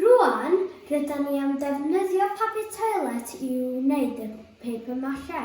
Rŵan, rydan ni am ddefnyddio papur toilet i wneud y paper mache.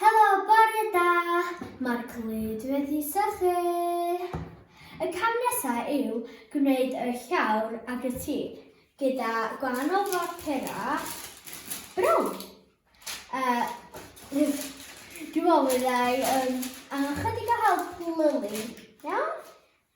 Helo, bore da! Mae'r clwyd wedi sychu! Y cam nesaf yw gwneud y llawr ag y tir gyda gwahanol fapura brown. Uh, Dwi'n meddwl fyddai um, angen chydig o help Lily, iawn?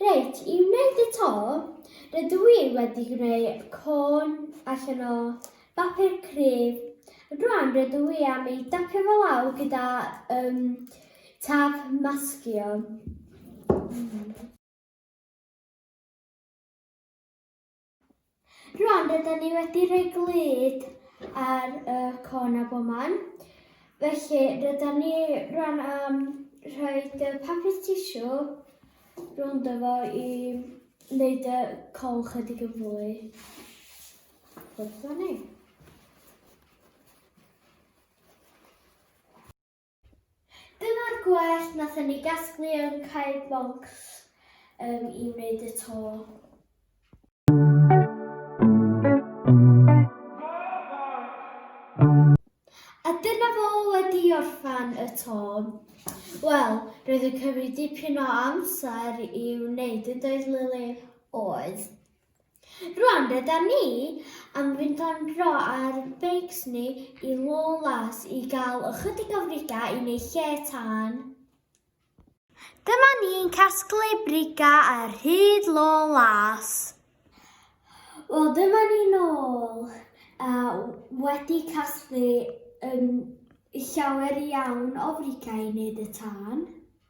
Reit, i wneud y to, rydw i wedi gwneud côn allan o bapur cryf. Rwan rydw i am ei dapio fo lawr gyda um, taf masgio. Mm. Rwan rydyn ni wedi rhoi glyd ar y con a boman. Felly rydyn ni rwan am rhoi y papur tisio rhwng dyfo i wneud y col chydig yn fwy. Wrth ni. Dyma'r gwellt nathon ni gasglu yn Cae Bonks um, i wneud y to. Tom. Wel, roedd yn cymryd dipyn o amser i wneud yn doedd Lily? Oedd. Rwan rydan ni am fynd am dro ar ein beics ni i Lawless i gael ychydig o friga i neu lle tân. Dyma ni'n casglu briga ar hyd Lawless. Wel dyma ni nôl a wedi casglu yn llawer iawn o friga i wneud y tân.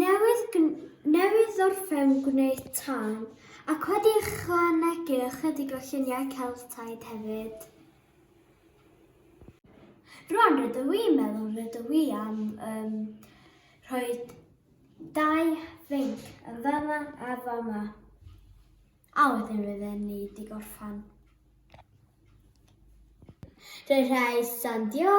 Newydd, newydd orffen gwneud tân ac wedi ychwanegu ychydig o lluniau Celtaidd hefyd. Rwan rydw i'n meddwl rydw i am um, rhoi dau fync yn fama a fama. A wedyn rydyn ni wedi gorffan. Rhaid sandio.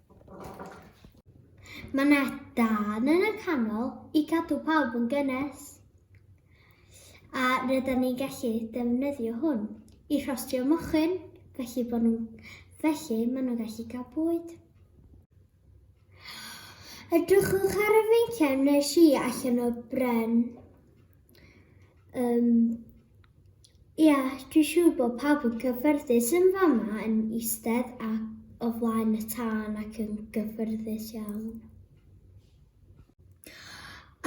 Mae yna dan yn y canol i cadw pawb yn gynnes. A rydyn ni'n gallu defnyddio hwn i rhostio mochyn, felly, bod nhw'n, felly maen nhw'n gallu cael bwyd. Edrychwch ar y feinciau wnes i allan o bren. Um, Ie, yeah, dwi'n siŵr bod pawb yn gyffyrddus yn fama yn eistedd a o flaen y tân ac yn gyffyrddus iawn.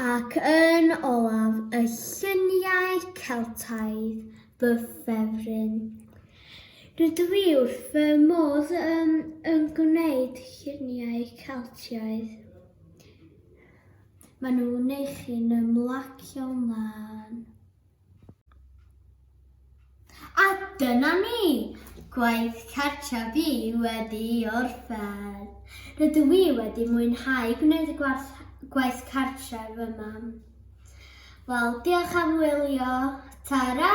Ac yn olaf, y lluniau Celtaidd, fy ffefryn. Rydw i wrth fy modd yn, yn gwneud lluniau Celtiaidd. Maen nhw'n wneud chi'n ymlacio'n lân. A dyna ni! Gwaith cartra fi wedi orffen. Rydw i wedi mwynhau gwneud y gwaith, gwaith cartra fy mam. Wel, diolch am wylio. Ta-ra!